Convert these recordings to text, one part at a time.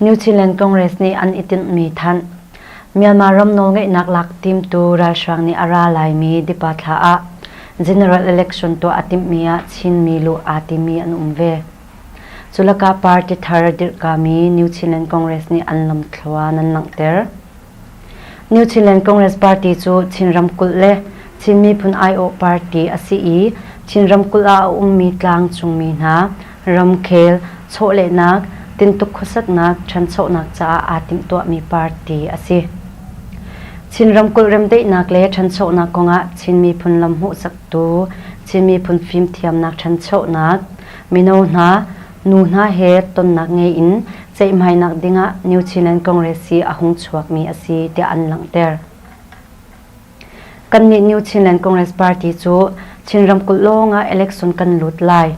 New Zealand Congress nih an i tinhmi thanh, Myanmar ram nawlngeihnak lak timtu ralhrang nih a ra laimi Dipa thla ah general election tuah a timhmi ah Chinmi luh aa timi an um ve. Cu lakah party thar dirhkami New Zealand Congress nih an lamthluan an langhter. New Zealand Congress party cu Chin ramkulh le Chin miphun aiawh party a si i Chin ramkulh ah a ummi tlangcungmi hna ramkhel chawhlehnak, tintuk khuasaknak, ṭhanchonak caah aa timhtuahmi party a si. Chin ramkulh remdaihnak le ṭhanchonak kongah Chin miphun lam hmuhsaktu, Chin miphun fimthiamnak ṭhanchonak, mino hna Nu hna he tonnak ngei in ceihmainak dingah New Zealand Congress hi a hung chuakmi a si tiah an langhter. Kannih New Zealand Congress Party cu Chin ramkulh lawngah election kan lut lai.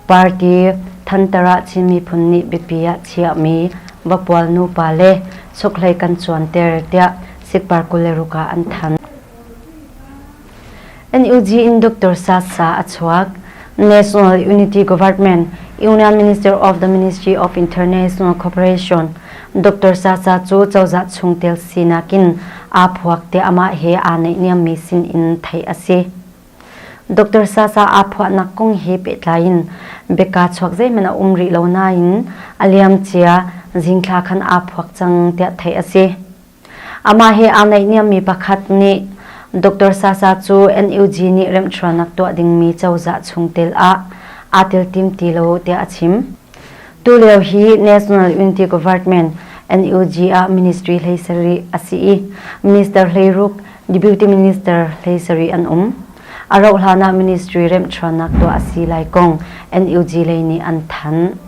Party Thantara Chin miphun nih biapi ah chiahmi vapual nupa le chukhlei kan cuanter tiah Sikpar kul le ruk ah an thanh. NUG in Dr. Sat Sa a chuak. National Unity Government Union Minister of the Ministry of International Cooperation Dr. Sa Sa cu cozah chungtel sinak in aa phuak te amah he aa neih niammi sin in theih a si. Dr. Sa Sa aa phuahnak kong he pehtlai in beka chuak zeiman a um rih lo nain a liam cia zingthla khan aa phuak cang tiah theih a si. Amah he aa naihniammi pakhat nih Doctor Sasa cu NUG nih remhchuanak tuah dingmi cozah chungtel ah aa teltim ti lo tiah a chim. Tulio hi National Unity Government, NUG, ah ministry hlei sarih a si i minister hlei ruk deputy minister hlei sarih an um. A rauhhlan ah ministry remhchuanak tuah a si lai kong NUG lei nih an thanh.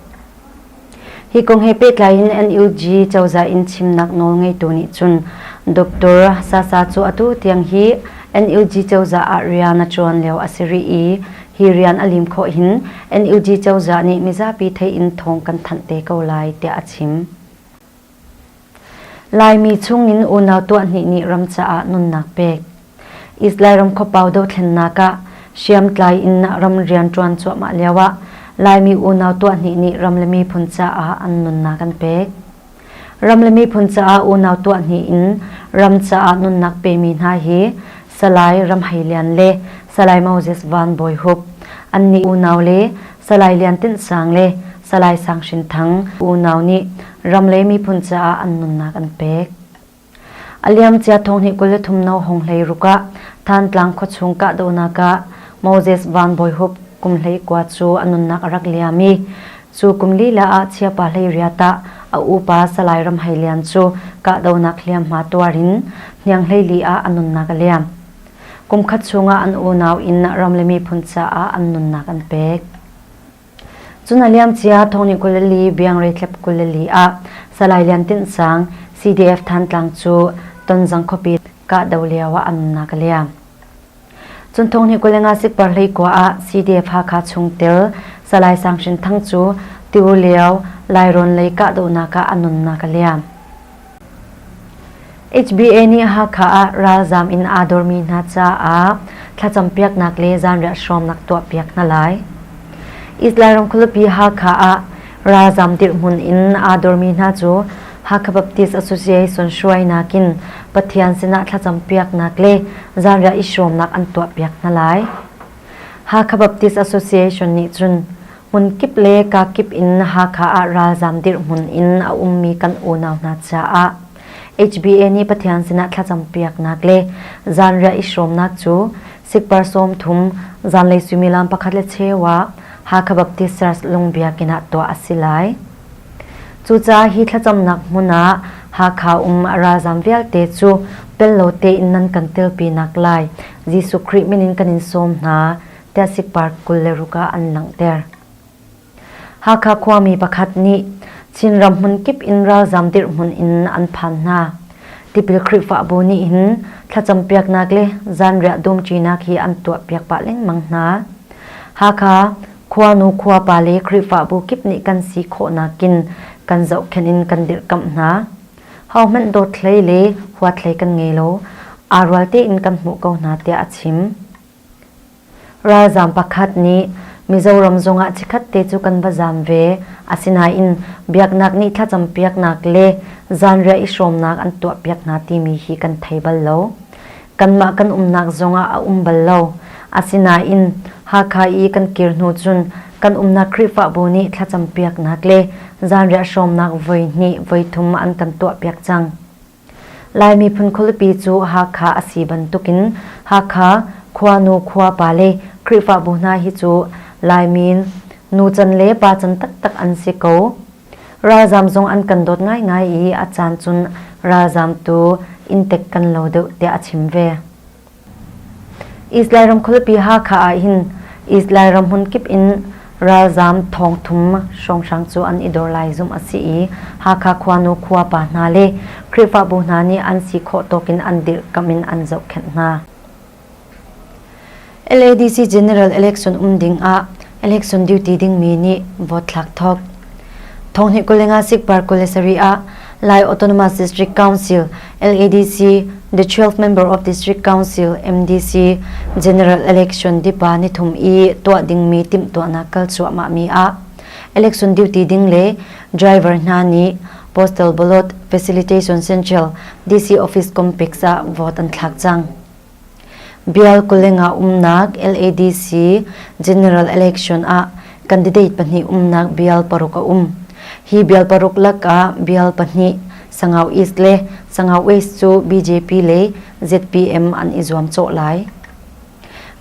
Hi kong he pehtlai in NUG cozah in chimnak nawl ngeitu nih cun Doctor Sasa cu atu tiang hi NUG cozah ah rian a ṭuan lio a si rih i hi rian a lim khawh hin NUG cozah nih mizapi theih in thawng kan thanh te ko lai tiah a chim. Laimi chungin unau tuahhnih nih ram caah nunnak pek. Lairam khuapau dothlennak ah hriamtlai in ram rian ṭuan cuahmah lioah Laimi unau tuahhnih nih ram le miphun caah an nunnak an pek. Ram le miphun caah unau tuahhnih in ram caah nunnak pemi hna hi Salai Ram Hei Lian le Salai Moses Van Bawi Hup, an nih unau le Salai Lian Tinh Sang le Salai Sang Hrin Thang unau nih ram le miphun caah an nunnak an pek. A liamcia thong hnih kul le thum no hong hlei ruk ah Thantlang khuachung kahdohnak ah Moses Van Bawi Hup kum hlei kua cu a nunnak a rak liam i cu kum lila ah chiapa hlei riat ah a upa Salai Ram Hei Lian cu kahdohnak hliamhma tuar in hniang hlei li ah a nunnak a liam. Kumkhat chungah an unau inn ram le miphun caah an nunnak an pek. Cun a liamcia Thawngni kul le li Biangre tlep kul le li ah Salai Lian Tinh Sang CDF Thantlang cu Tonzang khuapi kahdoh lio ah a nunnak a liam. Cun Thawngni kul le nga sikpar hlei kua ah CDF Hakha chungtel Salai Sang Hrin Thang cu tiur lio Lairawn lei kahdohnak ah a nunnak a liam. HBA nih Hakha ah ralzaam in aa dormi hna caah thlacam piaknak le zanriah hrawmnak tuahpiak hna lai. Israel ram khualipi Hakha ah ralzaam dirhmun in aa dormi hna cu Hakha Baptist Association hruai nakin Pathian sinah thlacam piaknak le zanriah i hrawmnak an tuahpiak hna lai. Hakha Baptist Association nih cun hmunkip le kakip in Hakha ah ralzaam dirhmun in a ummi kan unau hna caah HBA nih Pathian sinah thlacampiaknak le zanriah i hrawmnak cu sikpar sawm thum zanlei suimilam pakhat le cheu ah Hakha Baptist Church Lung Biakinn ah tuah a si lai. Cucaah hi thlacamnak hmun ah Hakha um a ralzaam vialte cu pello tein nan kan telpinak lai Jesuh Khrih min in kan in sawm hna Tasik Park kul le ruk ah an langhter. Hakha khuami pakhat nih Chinram hmun kip in ralzam dirhmun in an phan hna. Tipil Khrihfabu nih hin thlacampiaknak le zanriah dumṭinak hi an tuahpiak pah lengmang hna. Hakha khuanu khuapa le Khrihfabu kip nih kan si khawhnak in kan zohkhenh in kan dirhkamh hna. Hohmanh dawt hlei le huat hlei kan ngei lo. Aa rual tein kan hmuh ko hna tiah a chim. Ralzaam pakhat nih Mizoram zongah chikkhatte cu kan va zaam ve. Asinain biaknak nih thlacampiaknak le zanriah i hrawmnak an tuahpiak hna timi hi kan thei bal lo. Kanmah kan umnak zongah a um bal lo. Asinain Hakha i kan kir hnu cun kan umnak Khrihfabu nih thlacampiaknak le zanriah hrawmnak voi hnih voi thum an kan tuahpiak cang. Lai miphun khualipi cu Hakha a si bantukin Hakha khuanu khuapa le Khrihfabu hna hi cu Laimi nu can le pa can taktak an si ko. Ralzaam zong an kan dawt ngaingai i a caan cun ralzaam tu inntek kan lo deuh tiah a chim ve. Israel ram khualipi Hakha ah hin Israel ram hmunkip in ralzaam thawngthum hrawnghrang cu an i dor lai zumh a si i Hakha khuanu khuapa hna le Khrihfabu hna nih an si khawh tawkin an dirhkamh in an zohkhenh hna. LADC General Election um ding ah election duty dingmi nih vote thlak thok thonghni kulenga sikpar kule sari a lai autonomous district council ladc the 12th member of district council mdc general election dipa ni thum i tuah dingmi tim tuahnak kal chuah ma mi a election duty ding le driver hna ni postal bolot facilitation central dc office complex ah vote an thlak chang Byalkuleng ah umnak LADC General Election ah candidate pahnih umnak bial paruk a um. Hi bial paruk lakah bial pahnih Sangau East le Sangau West cu BJP le ZPM an i zuam cawh lai.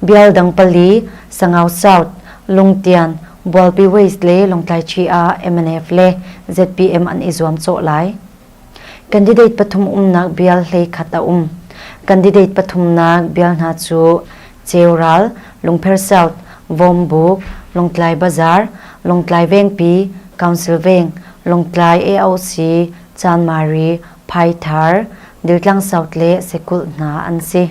Bial dang pali Sangau South Lungtian Bualpi West le Longtlai Chi ah MNF le ZPM an i zuam cawh lai. Candidate pathum umnak bial hleikhat a um. Candidate pathumnak bial hna cu Ceural, Lungpher South, Vawmbu, Lawngtlai Bazaar, Lawngtlai Vengpi, Council Veng, Lawngtlai AOC, Chan Mari, Phai Thar, Diltlang South le Sekulh hna an si.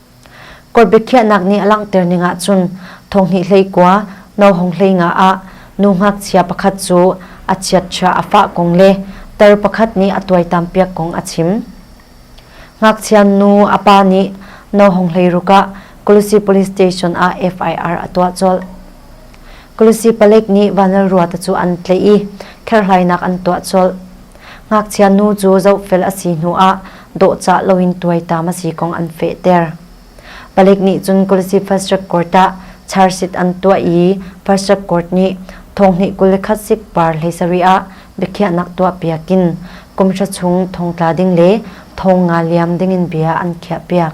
Kawt biakhiahnak nih a langhter ning ahcun Thonghnih hleikua No Hong hlei nga ah nu ngakchia pakhat cu a chiatchia a fah kong le tar pakhat nih a tuaitampiak kong a chim. Ngakchia nu a pa nih No Hong hlei ruk ah Kulusi police station ah FIR a tuah colh. Kulusi palek nih vanal ruata cu an tlaih i kherhlainak an tuah colh. Ngakchia nu cu zohfel a si hnuah dawhcah loin tuaitam a si kong an fehter. Palik nih cun Kulusi First Track Court ah charhsit an tuah i First Track Court nih thonghnih kul le khat sik par hleisarih ah biakhiahnak tuahpiak in kumhra chung thongtla ding le thong nga liam dingin bia an khiahpiak.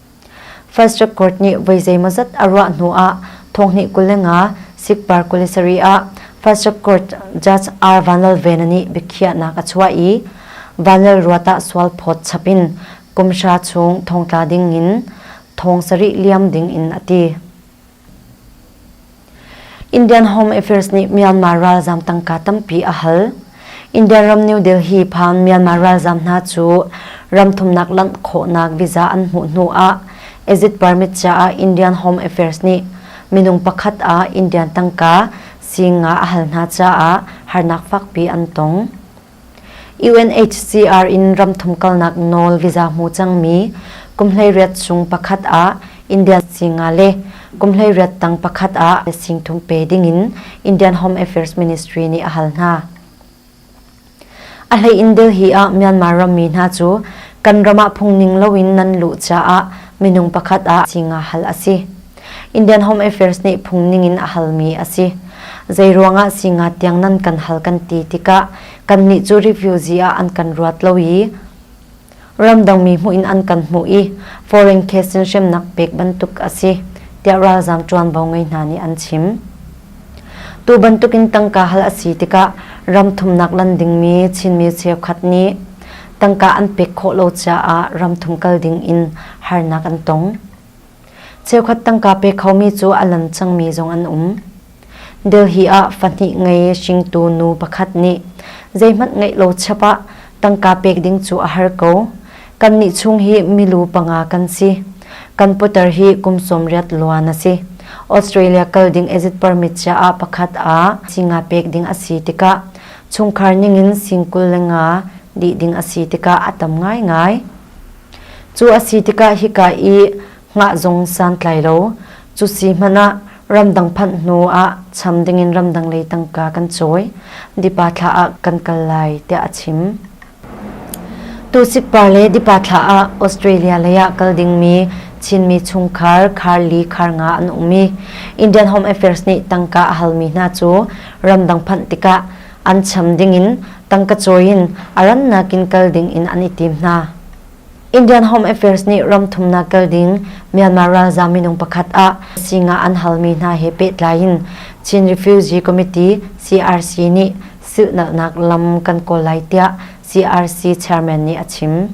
First Record nih voi zeimawzat a ruah hnu ah thonghnih kul le nga Sikpar kuli sarih ah First Record Judge R. Vanlalvena nih biakhiahnak a chuah i vanlal ruat ah sual phawt chap in kumhra chung thongtla ding in thong sarih liam ding in a ti. Indian Home Affairs nih Myanmar ralzaam tangka tampi a hal. Indian ram New Delhi phan Myanmar ralzaam hna cu ram thumnak lanh khawhnak visa an hmuh hnu ah exit permit caah Indian Home Affairs nih minung pakhat ah Indian tangka sing nga a hal hna caah harnak fakpi an tong. UNHCR in ram thum kalnak nawl visa hmu cangmi kumhleiriat chung pakhat ah Indian singa le kumhleiriat tang pakhat ah singthum pe dingin Indian Home Affairs Ministry nih a hal hna. A hlei in Delhi ah Myanmar rammi hna cu kan ram ah phungning loin nan luh caah minung pakhat ah singa hal a si. Indian Home Affairs nih phungning in a halmi a si. Zeiruangah singa tiang nan kan hal kan ti tikah kannih cu refugee ah an kan ruat lo i ramdangmi hmuh in an kan hmuh i foreign case in hremnak pek bantuk a si tiah ralzaam ṭuanvo ngei hna nih an chim. Tu bantukin tangka hal a si tikah ram thumnak lan dingmi Chinmi cheukhat nih tangka an pek khawh lo caah ram thum kal ding in harnak an tong. Cheukhat tangka pe khomi cu a lan cangmi zong an um. Delhi ah fahnih ngei hringtu nu pakhat nih zeihmanh ngeih lo chap ah tangka pek ding cu a har ko. Kannih chung hi milu panga kan si. Kan putar hi kum sawm riat luan a si. Australia kal ding exit permit cia ah pakhat ah singa pek ding a si tikah chungkhar ningin singkul le nga dih ding a si tikah a tam ngaingai. Cu a si tikah hika i hngah zung santlai lo, cu si hmanh ah ramdang phanh hnu ah cham dingin ramdang lei tangka kan cawi, dipa thla ah kan kal lai tiah a chim. Tu sikpa le dipa thla ah Australia lei ah kal dingmi Chinmi chungkhar Carly Kharnga an um i Indian Home Affairs nih tangka a halmi hna cu ramdang phanh tikah an cham dingin tangka cawi in a rannak in kal ding in an i tim hna. Indian Home Affairs nih ram thumnak kal ding Myanmar ralzaam minung pakhat ah singa an halmi hna he pehtlai in Chin Refugee Committee CRC nih silhnalhnak lam kan kawl lai tiah CRC chairman nih a chim.